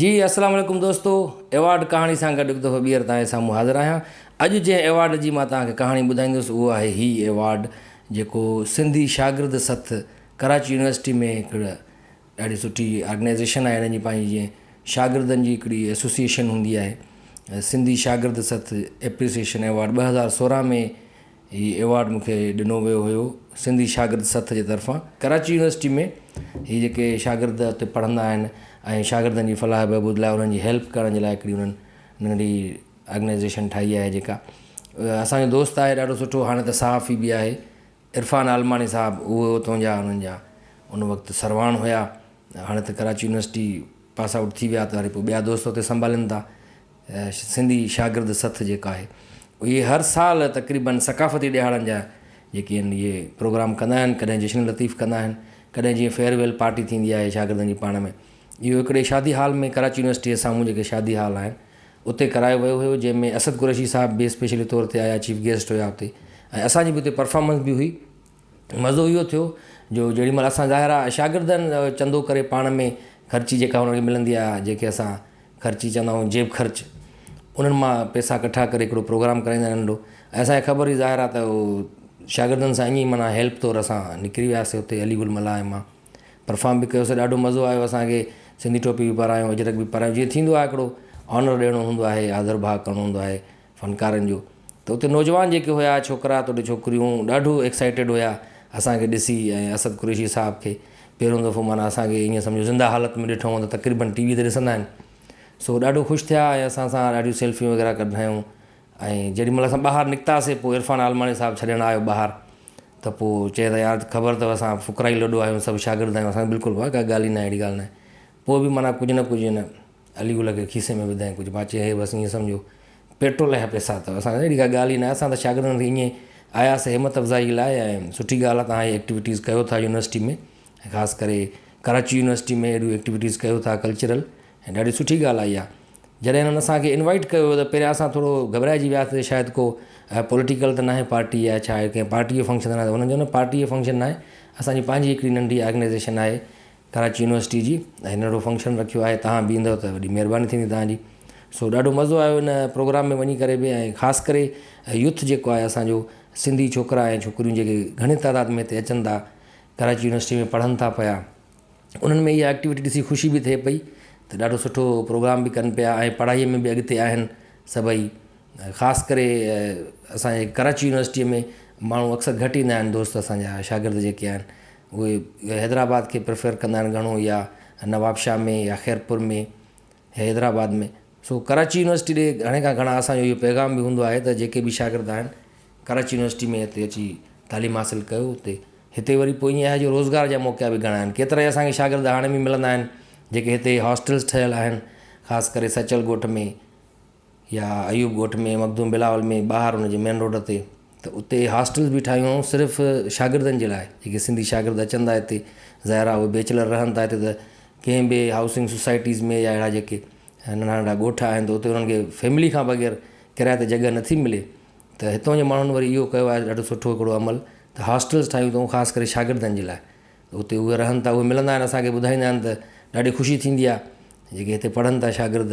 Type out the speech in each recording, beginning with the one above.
جي اسلام عليڪم دوستو ايوارڊ ڪهاڻي سان گڏ هڪ دفعو ٻيهر توهان جي سامهون حاضر آهيان اڄ جنهن ايوارڊ جي مان توهان کي ڪهاڻي ٻڌائيندس اهو آهي هي ايوارڊ جيڪو سنڌي شاگرد سٿ ڪراچي يونيورسٽي ۾ هڪڙ ڏاڍي سٺي آرگنائزيشن آهي هنن جي پنهنجي جيئن شاگردن جي هڪڙي ايسوسيئيشن هوندي آهي سنڌي شاگرد سٿ ايپريسيئيشن ايوارڊ ٻه هزار سورهن ۾ هي ايوارڊ مون کي ڏنو ويو هيو سنڌي شاگرد سٿ جي طرفان ڪراچي يونيورسٽي ۾ هي جيڪي شاگرد اتي پڙهندا آهن ۽ شاگردن جي فلاح بهبود لاء انهن جي هيلپ ڪرڻ جي لاء هڪڙي انهن ننڍي آرگنائزيشن ٺاهي آهي جيڪا اسانجو دوست آهي ڏاڍو سٺو هاڻي ته صحافي به آهي عرفان عالماڻي صاحب اهي اتون جا انهن جا ان وقت سرواڻ هيا هاڻي ته ڪراچي يونيورسٽي پاس آئوٽ ٿي ويا ته وري پوء ٻيا دوست اتي سنڀالين ٿا سنڌي شاگرد سٿ جيڪا آهي اهي هر سال تقريبن ثقافتي ڏهاڙن جا جيڪي آهن اهي پروگرام ڪندا آهن ڪڏهن جشن لطيف ڪندا آهن ڪڏهن جيئن فيئرويل پارٽي ٿيندي آهي شاگردن جي پاڻ ۾ اهو هڪڙي شادي هال ۾ ڪراچي يونيورسٽي جي سامهون جيڪي شادي هال آهن اتي ڪرايو ويو هيو جنهن ۾ اسد قريشي صاحب به اسپيشلي طور تي آيا چيف گيسٽ هيا اتي ۽ اسان جي به اتي پرفارمنس به هئي مزو اهو ٿيو جو جيڏي مهل اسان ظاهر آ شاگردن چندو ڪري پاڻ ۾ خرچي جيڪا هن کي ملندي آ جيڪي اسان خرچي چوندا آهيون جيب خرچ انهن مان پيسا ڪٺا ڪري هڪڙو پروگرام ڪرائيندا آهن ننڍو ۽ اسان کي خبر هئي ظاهر آ ته هو شاگردن سان ائين معنيٰ هيلپ طور اسان نڪري وياسي اتي علي گل ملاح مان پرفام به ڪيوسي ڏاڍو مزو آيو اسان کي سنڌي ٽوپي به پرايو اجرڪ به پرايو جيئن ٿيندو آ هڪڙو آنر ڏيڻو هوندو آهي آڌر ڀاء ڪرڻو هوندو آهي فنڪارن جو ته اتي نوجوان جيڪي هيا ڇوڪرا توڙي ڇوڪريون ڏاڍو ايڪسائيٽيڊ هيا اسان کي ڏسي ۽ اسد قريشي صاحب کي پهريون دفعو معنيٰ اسان کي ائين سمجهو زنده حالت ۾ ڏٺائون ته تقريبن ٽي وي تي ڏسندا آهن سو ڏاڍو خوش ٿيا ۽ اسان سان ڏاڍيون سيلفيون وغيره ڪڍرايون ۽ جيڏي مهل اسان ٻاهر نڪتاسي پوء عرفان عالماڻي صاحب ڇڏڻ آيو ٻاهر ته پوء چيائين ته يار خبر اٿو اسان فقرائي لڏو آهيون سڀ شاگرد آهيون اسان کي بلڪل ڪا ڳالهه ئي ناهي اهڙي ڳالهه ناهي پوء به معنيٰ ڪجهه نه ڪجهه هن علي گل کي کيسي ۾ وڌائين ڪجهه مان چيو هي بس ائين سمجهو پيٽرول جا پئسا اٿو اسان سان اهڙي ڪا ڳالهه ئي ناهي اسان ته شاگردن کي ائين آياسي همٿ افزائي لاء ۽ سٺي ڳالهه آهي تون هي ايڪٽيوٽيز ڪيو ٿا يونيورسٽي ۾ ۽ خاص ڪري ڪراچي يونيورسٽي ۾ اهڙيون ايڪٽيوٽيز ڪيو ٿا ڪلچرل ۽ ڏاڍي سٺي ڳالهه آهي اها جڏهن هنن اسانکي انوائيٽ ڪيو هو پهريان اسان ٿورو گهٻرائجي وياسي شايد ڪو پوليٽيڪل ته ناهي پارٽي يا ڇا ڪنهن پارٽي جو فنڪشن ته هنن چيو نه پارٽي جو فنڪشن ناهي اسانجي پنهنجي هڪڙي ننڍي آرگنائيزيشن آهي ڪراچي يونيورسٽي جي ۽ ننڍڙو فنڪشن رکيو آهي تهان به ايندو ته وڏي مهرباني ٿيندي تهان جي سو ڏاڍو مزو آيو ان پروگرام ۾ وڃي ڪري به ۽ خاص ڪري يوٿ جيڪو آهي اسانجو سنڌي ڇوڪرا ۽ ڇوڪريون جيڪي گهڻي تعداد ۾ هتي اچن ٿا ڪراچي يونيورسٽي ۾ پڙهن ٿا پيا انهن ۾ اها ايڪٽيوٽي ڏسي خوشي به ٿئي پئي ته ڏاڍو سٺو پروگرام به ڪن پيا ۽ پڙهائي ۾ به اڳتي آهن سڀئي خاص ڪري اسانجي ڪراچي يونيورسٽي ۾ ماڻهو اڪثر گهٽ ايندا آهن دوست اسانجا شاگرد جيڪي آهن اهي حيدرآباد کي پريفر ڪندا آهن گهڻو يا نوابشاهه ۾ يا خيرپور ۾ حيدرآباد ۾ سو ڪراچي يونيورسٽي ڏي گهڻي کان گهڻا اسان جو اهو پيغام به هوندو آهي ته جيڪي به شاگرد آهن ڪراچي يونيورسٽي ۾ هتي اچي تعليم حاصل ڪيو هتي هتي وري پوء ائين آهي جو روزگار جا موقعا به گهڻا آهن ڪيترا ئي اسانکي شاگرد هاڻي به ملندا آهن جيڪي هتي هاسٽلس ٺهيل آهن خاص ڪري سچل ڳوٺ ۾ يا ايوب ڳوٺ ۾ مخدوم بلاول ۾ ٻاهر ان جي مين روڊ تي ته اتي هاسٽلز به ٺاهيون هئائون صرف شاگردن جي لاء جيڪي سنڌي شاگرد اچن ٿا هتي ظاهر آهي اهي بيچلر رهن ٿا هتي ته ڪنهن به هائوسنگ سوسائٽيز ۾ يا اهڙا جيڪي ننڍا ننڍا ڳوٺ آهن ته اتي انهن کي فيملي کان بغير ڪرايي تي جڳهه نٿي ملي ته هتو جي ماڻهن وري اهو ڪيو آهي ڏاڍو سٺو هڪڙو عمل ته هاسٽلز ٺاهيون اٿئون خاص ڪري شاگردن جي لاء اتي اهي رهن ٿا اهي ملندا آهن اسان کي ٻڌائيندا آهن ته ڏاڍي خوشي ٿيندي آهي جيڪي هتي پڙهن ٿا شاگرد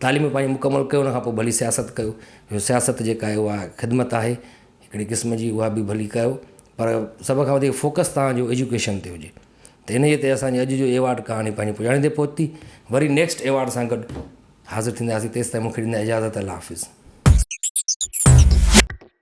تعليم پنهنجي مڪمل ڪيو ان کان پوء ڀلي سياست ڪيو جو سياست جيڪا آهي اها خدمت آهي هڪڙي قسم جي اها به ڀلي ڪيو پر سڀ کان وڌيڪ فوڪس تهان جو ايجوڪيشن تي هجي ته ان جي تي اسان جي اڄ جو ايوارڊ ڪهاڻي پنهنجي پڄاڻي تي پهتي وري نيڪسٽ ايوارڊ سان گڏ حاضر ٿينداسين تيستائين مونکي ڏيندا اجازت الله حافظ.